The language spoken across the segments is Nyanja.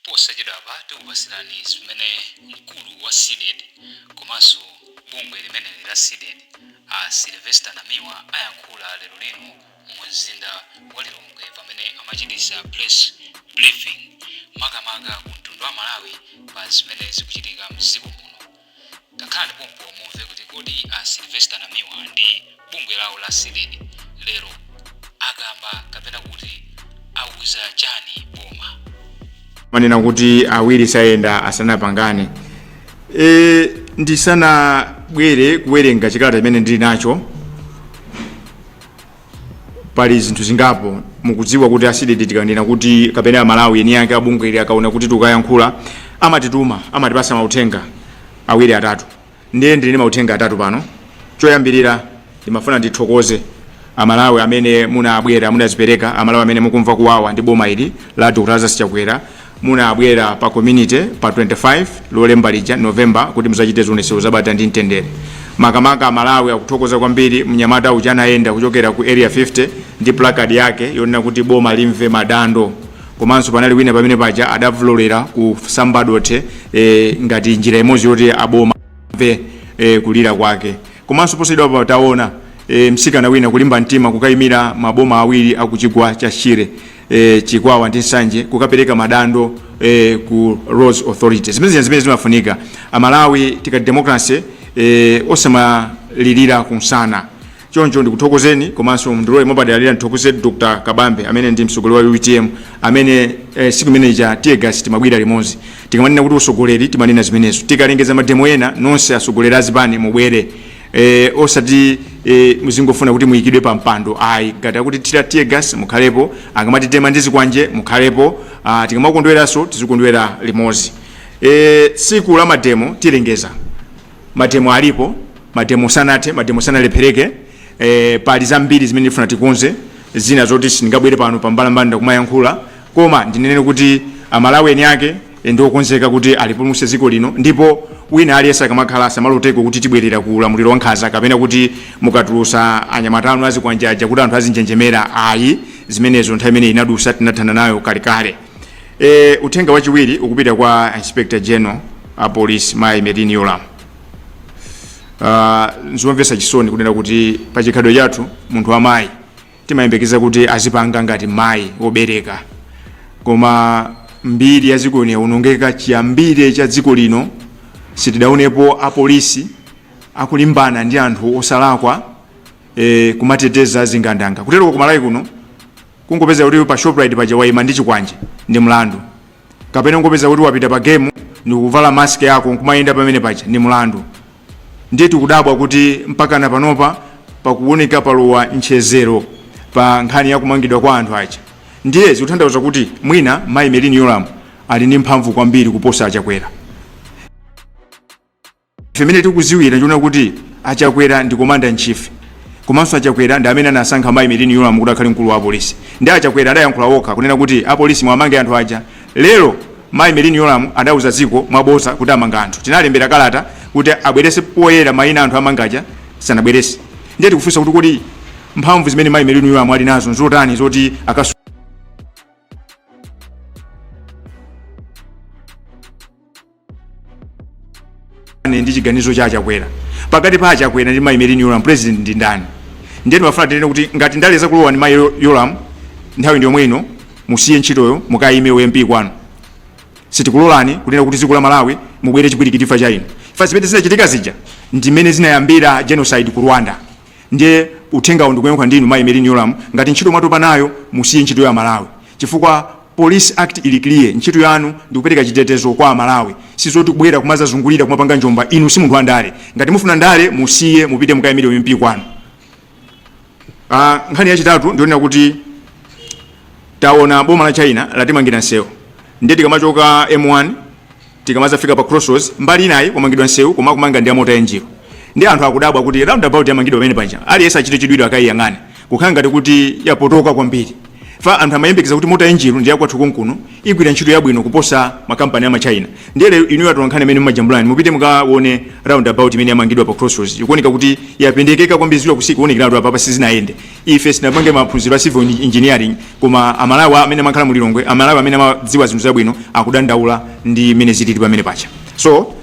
Posachedwapa tikupatsirani zimene mkulu wa Cdedi komanso bungwe limeneli la Cdedi a Sylvester Namiwa ayankhula lero lino mu mzinda wa Lilongwe pamene amachititsa press briefing makamaka ku mtundu wa Malawi pa zimene zikuchitika mdziko muno. Takhalani pompo mumve kuti kodi a Sylvester Namiwa ndi bungwe lawo la Cdedi lero akamba kapena kuti auza chani boma. Amanena kuti awiri sayenda asanapangane e, ndisanabwere kuwerenga chikalata chimene ndili nacho pali zinthu zingapo mukudziwa kuti a Cdedi tikanena kuti kapena amalawi eni ake abungwe ili akaona kuti tukayankhula amatituma amatipasa mauthenga awiri atatu ndiye ndili ndi mauthenga atatu pano choyambirira ndimafuna ndithokoze amalawi amene munabwera munazipereka amalawi amene mukumva kuwawa ndi boma ili la dr lazarus chakwera Munabwera pa community pa 25 lolemba lija November kuti muzachite zionetsero za bata ndi mtendere. Makamaka Amalawi akuthokoza kwambiri mnyamata uja anayenda kuchokera ku Area 50 ndi placard yake yonena kuti boma limve madando. Komanso panali wina pamene paja adavulolera kusamba dothe eh, ngati njira imodzi yoti aboma amve eh, kulira kwake. Komanso posachedwapa taona e, msikana wina kulimba mtima kukayimira maboma awiri akuchigwa cha Shire e, chikwawa ndi nsanje kukapereka madando e, ku roads authority zimene zija ndi zimene zimafunika amalawi tikati democracy e, osamalirira kumsana choncho ndikuthokozeni komanso mndilole mwapadera ndithokoze dr kabambe amene ndi mtsogoleri wa utm amene eh, siku imene ija teargas timamwera limodzi tikamanena kuti usogoleri timanena zimenezo tikalengeza mademo ena nonse asogoleri azipani mubwere e, osati e, muzingofuna kuti muyikidwe pa mpando ayi ngati akutithira tear gas mukhalepo akamatitema ndi zikwanje mukhalepo ah, tikamakondweranso tizikondwera limodzi e, tsiku la mademo tilengeza mademo alipo mademo sanathe mademo sanalephereke e, pali zambiri zimene ndifuna tikonze zina zoti sindingabwere pano pambalambanda kumayankhula koma ndinene kuti amalawi eni ake ndi okonzeka kuti alipulumutse dziko lino ndipo wina aliyense akamakhala asamaloteko kuti tibwerera ku ulamuliro wa nkhanza kapena kuti mukatulusa anyamata anu azikwanje aja kuti anthu azinjenjemera ayi zimenezo nthawi imene inadusa tinathana nayo kalekale e, uthenga wachiwiri ukupita kwa inspector general a police mai merlyne yolam uh, nzomvetsa chisoni kunena kuti pa chikhalidwe chathu munthu wamayi timayembekeza kuti azipanga ngati mayi wobereka koma mbiri ya dziko lino yaonongeka chiyambire cha dziko lino sitidaonepo apolisi akulimbana ndi anthu osalakwa e, kumateteza zingandanga kuteroko ku Malawi kuno kungopeza kuti pa shoprite paja waima ndi chikwanje ndi mlandu kapena kungopeza kuti wapita pa Game ndi kuvala mask yako nkumayenda pamene paja ndi mlandu ndiye tikudabwa kuti mpaka na panopa pakuoneka palowa nchedzero pa nkhani ya kumangidwa kwa anthu aja ndiye zikutanthauza kuti mwina mayi Merini Yolamu ali ndi mphamvu kwambiri kuposa achakwera ife mene tikuziwira ndi yonena kuti achakwera ndi commander in chief komanso achakwera ndi amene anasankha mayi Merini Yolamu kuti akhale mkulu wa apolisi ndi achakwera adayankhula okha kunena kuti apolisi mwamange anthu aja Lero mayi Merini Yolamu adauza dziko mwabodza kuti amanga anthu. Tinalembera kalata kuti abweretse poyera maina a anthu amanga aja sanabweretse. Ndiye tikufunsa kuti kodi mphamvu zimene mayi Merini Yolamu ali nazo nzotani zoti akasu Ane ndi chiganizo cha achakwera pakati pa achakwera ndi mayi Merini Yolamu president ndi ndani ndiye ndimafuna tinene kuti ngati ndale zakulowa inu mayi Yolamu nthawi ndi yomwe ino musiye ntchitoyo mukayime u MP kwanu sitikulolani kunena kuti dziko la malawi mubwere chipwirikiti chifukwa cha inu chifukwa zimene zinachitika zija ndimene zinayambira genocide ku rwanda ndiye uthengawo ndikuyankhula ndi inu mayi Merini Yolamu ngati ntchito mwatopa nayo musiye ntchito ya aMalawi chifukwa police act ili clear ntchito yanu ndikupereka chitetezo kwa amalawi sizoti kubwera kumadzazungulira kumapanga njomba inu si munthu wa ndale ngati mufuna ndale musiye mupite mukayimire u MP kwanu Ah, nkhani yachitatu ndi yonena kuti taona boma la china latimangira nsewu ndiye tikamachoka m1 Tikamadzafika pa Crossroads mbali inayi kwamangidwa nsewu koma akumanga ndi a mota engil nde anthu akudabwa kuti roundabout yamangidwa pamene paja aliyese achite chidwi akayiyang'ane kukhala ngati kuti yapotoka kwambiri chifukwa anthu amayembekeza kuti mota engil ndi yakwathu konkuno igwira ntchito yabwino kuposa ma company a ma china ndiye lero inuyo atolankhani amene mumajambulanu mupite mukawone roundabout imene yamangidwa pa Crossroads ikuoneka kuti yapendekeka kwambiri zikuchita kuonekeratu apapa sizinayende ife sinapange maphunziro a civil engineering koma amalawi amene amakhala mu lilongwe amalawi amene amadziwa zinthu zabwino akudandaula ndi mmene zilili pamene paja so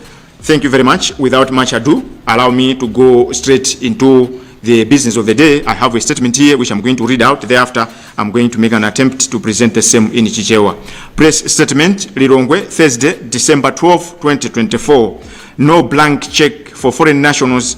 thank you very much without much ado allow me to go straight into the business of the day i have a statement here which i'm going to read out thereafter i'm going to make an attempt to present the same in chichewa press statement lilongwe thursday december 12 2024 no blank check for foreign nationals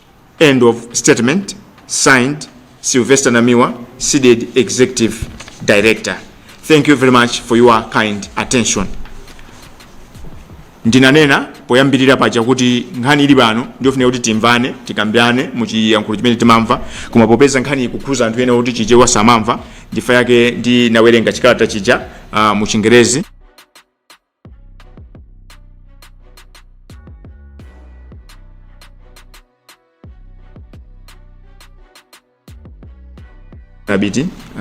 End of statement. Signed, Sylvester Namiwa, CDEDI Executive Director. Thank you very much for your kind attention. ndinanena poyambirira paja kuti nkhani ili pano ndiyofunika kuti timvane tikambirane muchiyankhulo chimene timamva koma popeza nkhani ikukhuza anthu ena kuti chichewa samamva ndichifukwa chake ndinawerenga chikalata chija uh, mu chingerezi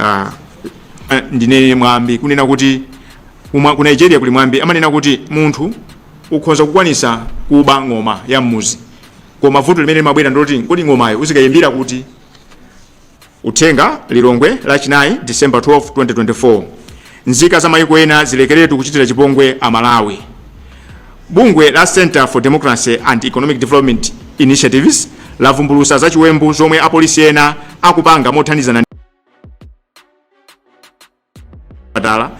ah, ah, ndinene mwambi kunena kuti umwa- ku nigeria kuli mwambi amanena kuti munthu ukhoza kukwanisa kuba ng'oma ya mmuzi koma vuto limene limabwera ndiloti kodi ng'omayo uzikayimbira kuti Uthenga, Lilongwe, Lachinayi, December 12, 2024. Nzika za mayiko ena zilekeretu kuchitira chipongwe a Malawi. Bungwe la Center for Democracy and Economic Development Initiatives lavumbulusa za chiwembu chomwe apolisi ena akupanga mothandizana chipatala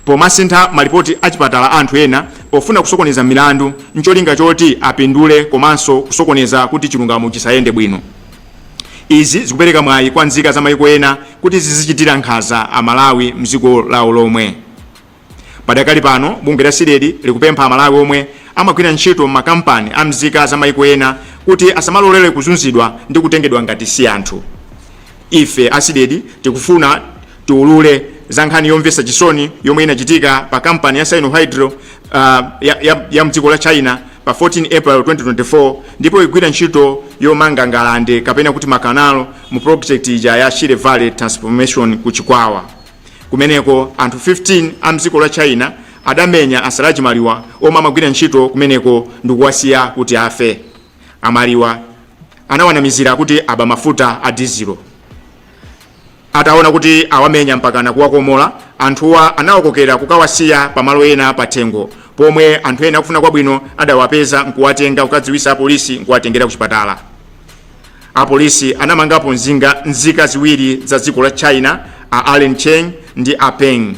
pomasintha malipoti a chipatala a anthu ena pofuna kusokoneza milandu ncholinga choti apindule komanso kusokoneza kuti chilungamo chisayende bwino izi zikupereka mwayi kwa nzika za maiko ena kuti zizichitira nkhanza amalawi mdziko lawo lomwe padakali pano bungwe la CDEDI likupempha amalawi omwe amagwira ntchito m'makampani a mzika za maiko ena kuti asamalolere kuzunzidwa ndi kutengedwa ngati si anthu ife a CDEDI tikufuna tiulule za nkhani yomvetsa chisoni yomwe inachitika pa kampani ya sinohydro uh, ya, ya, ya mdziko la china pa 14 april 2024 ndipo ikugwira ntchito yomanga ngalande kapena kuti makanalo mu project ija ya shire valley transformation ku chikwawa kumeneko anthu 15 a mdziko la china adamenya a Silaji Maliwa omwe amagwira ntchito kumeneko ndikuwasiya kuti afe a Maliwa anawanamizira kuti aba mafuta a dizilo ataona kuti awamenya mpakana kuwakomola anthuwa anawakokera kukawasiya pamalo ena pathengo pomwe anthu ena akufuna kwabwino adawapeza nkuwatenga kukadziwisa apolisi nkuwatengera ku chipatala apolisi anamangapo nzinga nzika ziwiri za dziko la china a allen cheng ndi a peng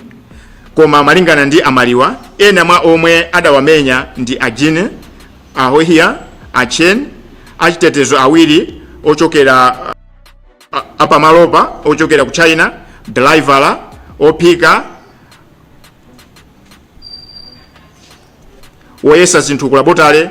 koma malingana ndi a Maliwa ena mwa omwe adawamenya ndi a jin a hohia a chen achitetezo awiri ochokera a- apamalopa ochokera ku china dalaivala ophika woyesa zinthu ku labotale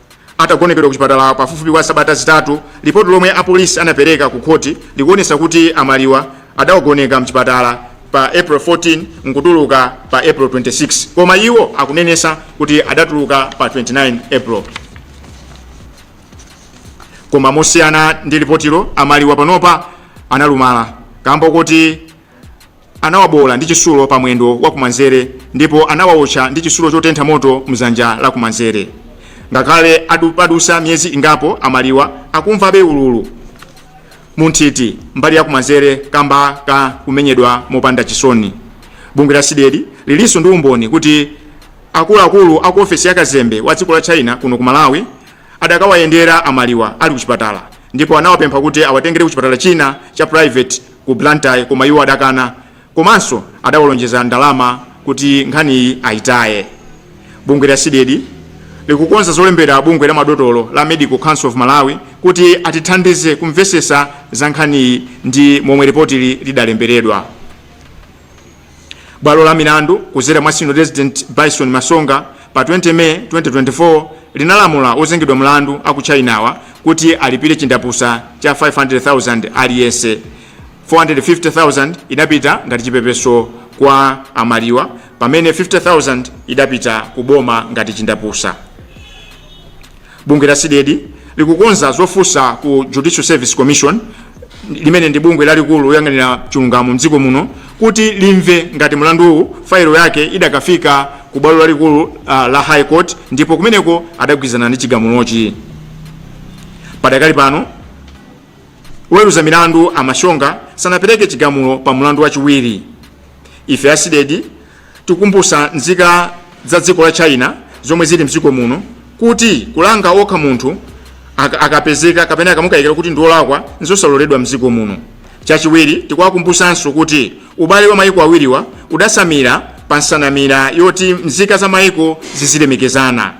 atagonekedwa ku chipatala pafupifupi kwa sabata zitatu lipoti lomwe apolisi anapereka ku khoti likuonesa kuti a Maliwa adawagoneka mchipatala pa april 14 nkutuluka pa april 26 koma iwo akunenesa kuti adatuluka pa 29 april koma mosiyana ndi lipotilo a Maliwa panopa analumala kamba kuti Anawaboola ndi chitsulo pa mwendo wa kumanzere ndipo anawawotcha ndi chitsulo chotentha moto m'dzanja la kumanzere. Ngakhale padutsa miyezi ingapo, a Maliwa akumvabe ululu mu nthiti mbali ya kumanzere kamba ka kumenyedwa mopanda chisoni. Bungwe la Cdedi lilinso ndi umboni kuti akuluakulu a ku ofesi ya kazembe wa dziko la China kuno ku Malawi adakawayendera a Maliwa ali kuchipatala ndipo anawapempha kuti awatengere kuchipatala china cha private ku Blantyre koma iwo adakana komanso adawalonjeza ndalama kuti nkhaniyi ayitaye. Bungwe la Cdedi likukonza zolembera bungwe la madotolo la Medical Council of Malawi kuti atithandize kumvesesa za nkhaniyi ndi momwe ripotili lidalemberedwa. Bwalo la milandu kudzera mwa Senior Resident Byson Masonga pa 20 May 2024 linalamula ozengedwa mlandu aku China-wa kuti alipire chindapusa cha 500,000 aliyense. 450,000 idapita ngati chipepeso kwa a Maliwa pamene 50,000 idapita ku boma ngati chindapusa. bungwe la cdedi likukonza zofunsa ku judicial service commission limene ndi bungwe lalikulu loyang'anira chilungamo mdziko muno kuti limve ngati mlanduwu failo yake idakafika ku bwalo lalikulu uh, la high court ndipo kumeneko adagwirizana ndi chigamulochi padakali pano woweruza milandu a Masonga sanapereke chigamulo pa mlandu wachiwiri ife a cdedi Tikukumbutsa nzika za dziko la China zomwe zili mdziko muno kuti kulanga okha munthu ak- akapezeka kapena akamukayikira kuti ndiolakwa nzosaloledwa mdziko muno. Chachiwiri, tikuwakumbutsanso kuti ubale wa mayiko awiriwa udasamira pa nsanamira yoti mzika za mayiko zizilemekezana.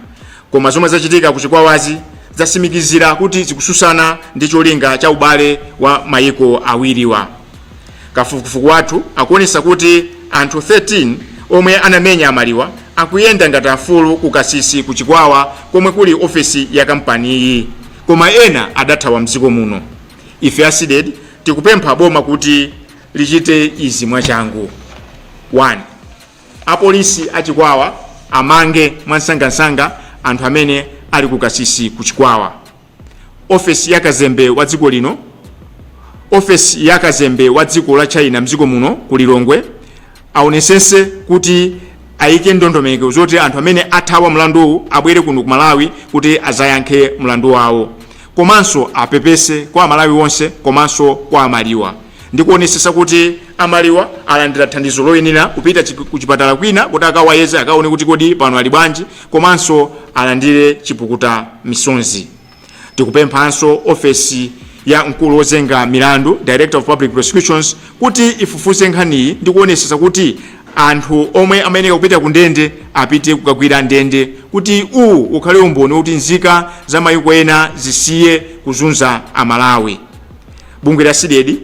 Koma zomwe zachitika ku Chikwawazi zasimikizira kuti zikususana ndi cholinga cha ubale wa mayiko awiriwa. kafukufuku wathu akuonesa kuti anthu 13 omwe anamenya a Maliwa akuyenda ngati afulu ku kasisi ku chikwawa komwe kuli ofesi ya kampaniyi koma ena adathawa mdziko muno ife a cdedi tikupempha boma kuti lichite izi mwachangu 1 apolisi a chikwawa amange mwansangasanga anthu amene ali ku kasisi ku chikwawa ofesi ya kazembe wa dziko lino ofesi ya kazembe wa dziko la china mdziko muno ku lilongwe aonesese kuti ayike ndondomeko zoti anthu amene athawa mlanduwu abwere kuno ku malawi kuti azayankhe mlandu wawo komanso apepese kwa amalawi onse komanso kwa amaliwa ndi kuonesesa kuti amaliwa alandira thandizo loyenera kupita chip- kuchipatala kwina kuti akawayeze akaone kuti kodi pano ali bwanji komanso alandire chipukuta misonzi tikupemphanso ofesi ya mkulu wozenga milandu director of public prosecutions kuti ifufuze nkhaniyi ndi kuonesesa kuti anthu omwe amayeneka kupita ku ndende apite kukagwira ndende kuti uwu ukhale umboni wokuti nzika za mayiko ena zisiye kuzunza amalawi bungwe la CDEDI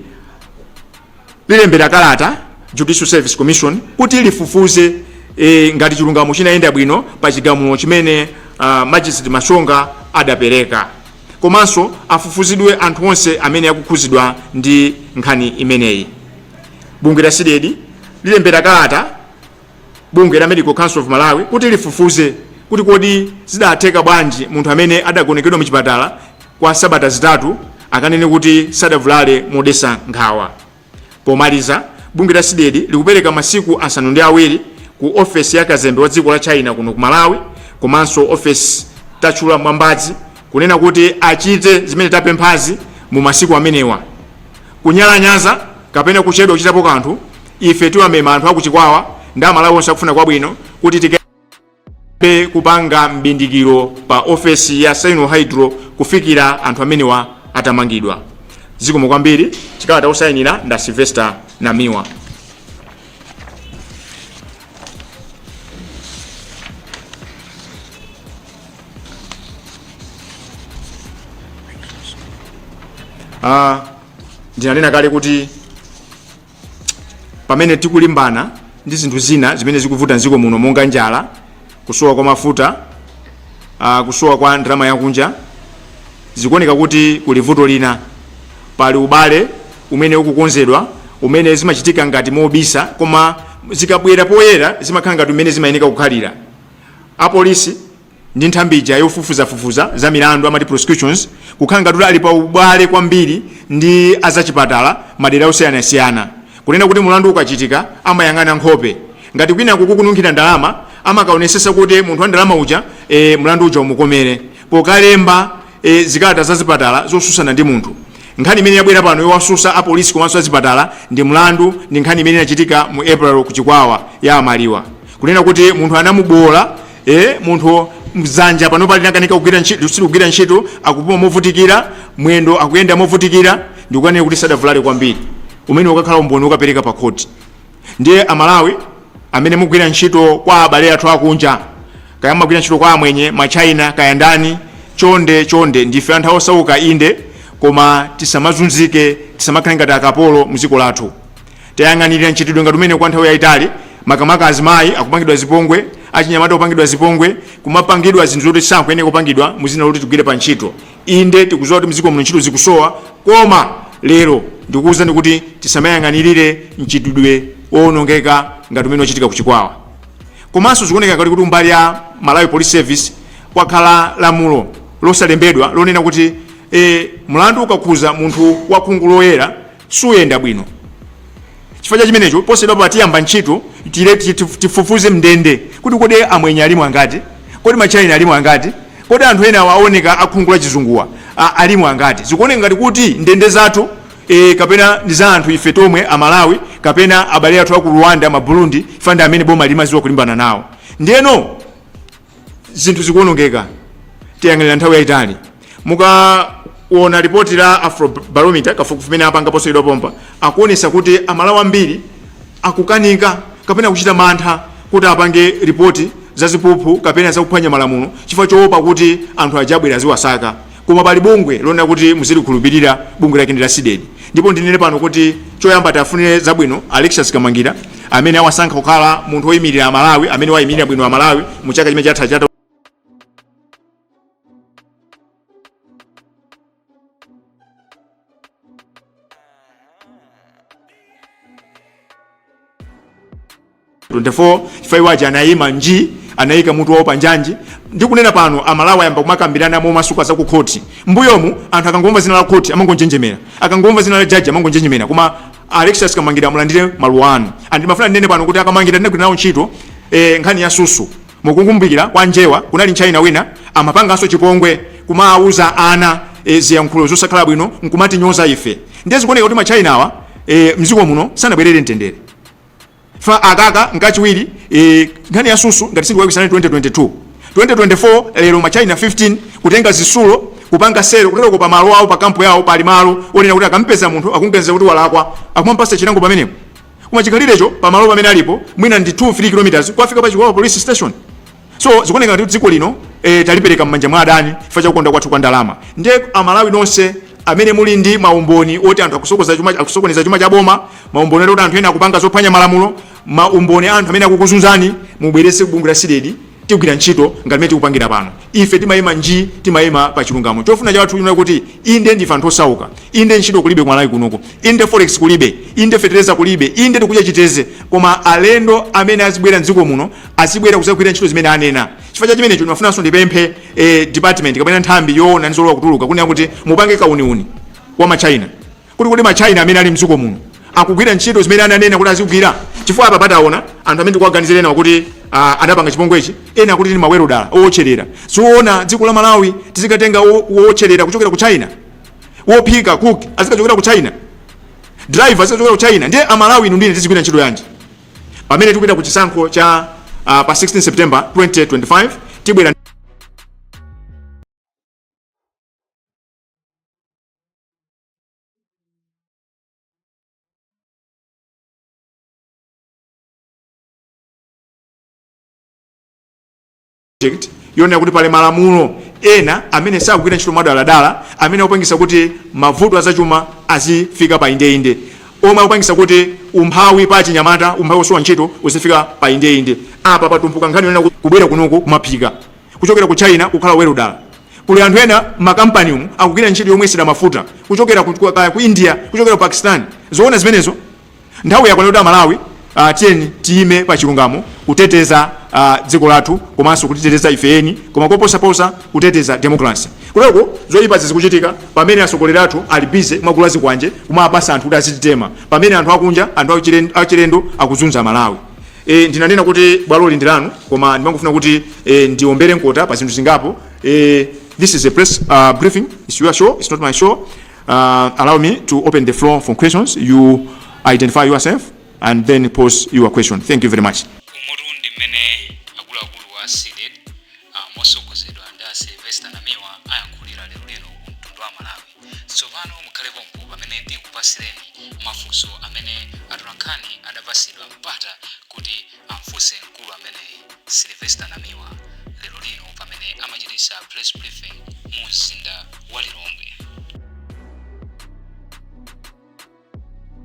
lilembera kalata judicial service commission kuti lifufuze e, ngati chilungamo chinayenda bwino pa chigamulo chimene uh, magistrate mashonga adapereka komanso afufuzidwe anthu onse amene akukhuzidwa ndi nkhani imeneyi bungwe la CDEDI lilembera kalata bungwe la Medical Council of Malawi kuti lifufuze kuti kodi zidatheka bwanji munthu amene adagonekedwa muchipatala kwa sabata zitatu akanene kuti sadavulale modesa nkhawa. Pomaliza, bungwe la CDEDI likupereka masiku asanu ndi awiri ku ofesi ya kazembe wa dziko la China kuno ku Malawi komanso ofesi tatchula mwambazi kunena kuti achite zimene tapemphazi mu masiku amenewa kunyalanyaza kapena kuchedwa kuchitapo kanthu ife tiwamema anthu akuchikwawa ndi amalawi onse akufuna kwabwino kuti tikambe kupanga mbindikiro pa ofesi ya sino hydro kufikira anthu amenewa atamangidwa zikomo kwambiri chikalata osayinira ndi a sylvester namiwa Ah, ndinanena kale kuti pamene tikulimbana ndi zinthu zina zimene zikuvuta mdziko muno monga njala kusowa kwa mafuta uh, kusowa kwa ndalama yakunja zikuoneka kuti kuli vuto lina pali ubale umene ukukonzedwa umene zimachitika ngati mobisa koma zikabwera poyera zimakhala ngati umene zimayeneka kukhalira apolisi ndi nthambi ija yofufuzafufuza za milandu amati prosecutions kukhala ngati kuti ali pa ubale kwambiri ndi azachipatala madera osiyanasiyana kunena kuti mulandu ukachitika amayang'ana nkhope ngati kwinako kukununkhira ndalama amakaonesesa kuti munthu wa ndalama uja e, mulandu uja umukomere pokalemba e, zikalata za zipatala zosusana ndi munthu nkhani imene yabwera pano yowasusa apolisi komanso azipatala ndi mlandu ndi nkhani imene inachitika mu april ku chikwawa ya amaliwa kunena kuti munthu anamubowola Eh, munthu mzanja panopa linakanika kugwira ntchito silikugwira ntchito akupuma movutikira mwendo akuyenda movutikira ndikukanena kuti sadavulale kwambiri umene ukakhala umboni ukapereka pa khoti ndiye amalawi amene mugwira ntchito kwa abale athu akunja kaya mumagwira ntchito kwa amwenye ma china kaya ndani chonde chonde ndife anthu osauka inde koma tisamazunzike tisamakhale ngati akapolo mdziko lathu tayang'anirira mchitidwe ngati umene kwa nthawi yayitali makamaka azimayi akupangidwa zipongwe achinyamata kupangidwa zipongwe kumapangidwa zinthu zoti sakuyenera kupangidwa muzina loti tigwire pa ntchito inde tikuziwa kuti mziko muno ntchito zikusowa koma lero ndikuwuzani kuti tisamayang'anirire mchitidwe owonongeka ngati umene wachitika kuchikwawa komanso zikuoneka ngati kuti kumbali ya malawi police service kwakhala lamulo losalembedwa lonena kuti e, mlandu ukakhuza munthu wakhungu loyera suyenda bwino chifukwa cha chimenecho posachedwapa tiyamba ntchito tire tif- tifufuze mndende kuti kodi amwenye alimo angati kodi machaina alimo angati kodi anthu ena awa ooneka akhungu la chizunguwa a- alimo angati zikuoneka ngati kuti ndende zathu e, kapena ndi za anthu ife tomwe amalawi kapena abale athu aku rwanda maburundi ife ndi amene boma limaziwa kulimbana nawo ndiyeno zinthu zikuonongeka tiyang'anira nthawi yayitali mukaona lipoti la afrobarometer kafukufuku amene apanga posachedwa pompa akuonesa kuti amalawi ambiri akukanika kapena kuchita mantha kuti apange ripoti za ziphuphu kapena zakuphwanya malamulo chifukwa choopa kuti anthu aja abwera aziwasaka Koma pali bungwe lonena kuti muzilikhulupirira, bungwe lake ndi la Cdedi. Ndipo ndinene pano kuti choyamba tiwafunire zabwino a Alexious Kamangila amene awasankha kukhala munthu woimirira a Malawi amene waimirira bwino a Malawi mu chaka chimene chatha cha 24 chifukwa iwo aja anayima nji anayika mutu wawo panjanji ndikunena pano amalawi ayamba kumakambirana momasuka za ku khoti mbuyomu anthu akangomva zina la khoti amangonjenjemera akangomva zina la jaji amangonjenjemera koma alexious kamangila mulandire maluwa anu and ndimafuna ndinene pano kuti a kamangila ndinagwira nawo ntchito eh, nkhani ya susu Mukukumbukira kwa njewa kunali nchina wina amapanganso chipongwe kumawuza ana e ziyankhulo zosakhala bwino nkumatinyoza ife ndiye zikuoneka kuti ma chinawa e mziko muno sanabwerere mtendere chifukwa akaka nkachiwiri e nkhani ya susu ngati sindikulakwitsa 2022 2024 lero ma china 15 kutenga zisulo kupanga selo kutereko pa malo awo pa kampu yawo pali malo onena kuti akampeza munthu akuganiza kuti walakwa akumampasa chilango pamenepo Koma chikhalirecho pa malo pamene alipo mwina ndi 2 3 km kukafika pa Chikwawa police station. So zikuoneka ngati dziko lino eh, talipereka m'manja mwa adani chifukwa cha kukonda kwathu kwa ndalama. Ndiye Amalawi nonse amene muli ndi maumboni oti anthu akusokoza chuma akusokoneza chuma cha boma, maumboni oti anthu ena akupanga zophwanya malamulo, maumboni a anthu amene akukuzunzani mubweretse ku bungwe la Cdedi Tigwira ntchito ngati mmene tikupangira pano. Ife timaima njii, timaima pa chilungamo. Chofuna chathu ndi chakuti, Inde ndife anthu osauka. Inde ntchito kulibe ku Malawi kunoku. Inde forex kulibe. Inde fetereza kulibe. Inde tikudya chiteze. Koma alendo amene azibwera m'dziko muno, azibwera kudzagwira ntchito zimene anena. Chifukwa cha chimenecho ndimafunanso ndipemphe eh department kapena nthambi yoona za zolowa kutuluka kunena kuti mupange kauniuni wa ma China. kuti kodi ma China amene ali mdziko muno akugwira ntchito zimene ananena kuti azigwira chifukwa apa pataona anthu amene tikuwaganizira ena kuti uh, anapanga chipongwechi ena akuti ndi mawelodala owotcherera sizoona dziko la Malawi tizikatenga owotcherera kuchokera ku China wophika cook azikachokera ku China driver azikachokera ku China ndiye amalawi inu ndine tizigwira ntchito yanji pamene tikupita ku chisankho cha uh, pa 16 September 2025 tibwera yonena kuti pali malamulo ena amene sakugwira ntchito mwadaladala amene akupangisa kuti mavuto azachuma azifika pa indeinde omwe akupangisa kuti umphawi pa achinyamata umphawi osowa ntchito uzifika pa indeinde apa patumpuka nkhani yonena kuti kubwera kunoku kumaphika kuchokera ku China kukhala welodala. Kuli anthu ena m'makampani umu akugwira ntchito yomwesera mafuta kuchokera ku, ku, kaya ku India kuchokera ku Pakistan. Zoona zimenezo? Nthawi yakwana kuti Amalawi uh, tiyeni tiyime pa chilungamo kuteteza ah, dziko lathu komanso kudziteteza ife eni koma koposaposa kuteteza demokrasi kuleko zoyipazi zikuchitika pamene atsogoleri athu ali bize kumagula zikwanje kumapasa anthu kuti azititema pamene anthu akunja anthu achilen- achilendo akuzunza amalawi E, ndinanena kuti bwaloli ndi lanu koma ndimangofuna kuti e, ndiombere mkota pa zinthu zingapo e, this is a press uh, briefing it's your show it's not my show uh, allow me to open the floor for questions you identify yourself and then pose your question thank you very much umotu ndi mmene akuluakulu wa cdedi motsogozedwa ndi a silvester namiwa ayankhulira lero lino ku mtundu wa malawi Tsopano mukhale pompo pamene tikupatsireni mafunso amene atolankhani adapatsidwa mpata kuti amfunse mkulu ameneyi, Sylvester Namiwa, lero lino pamene amachititsa press briefing mu mzinda wa Lilongwe.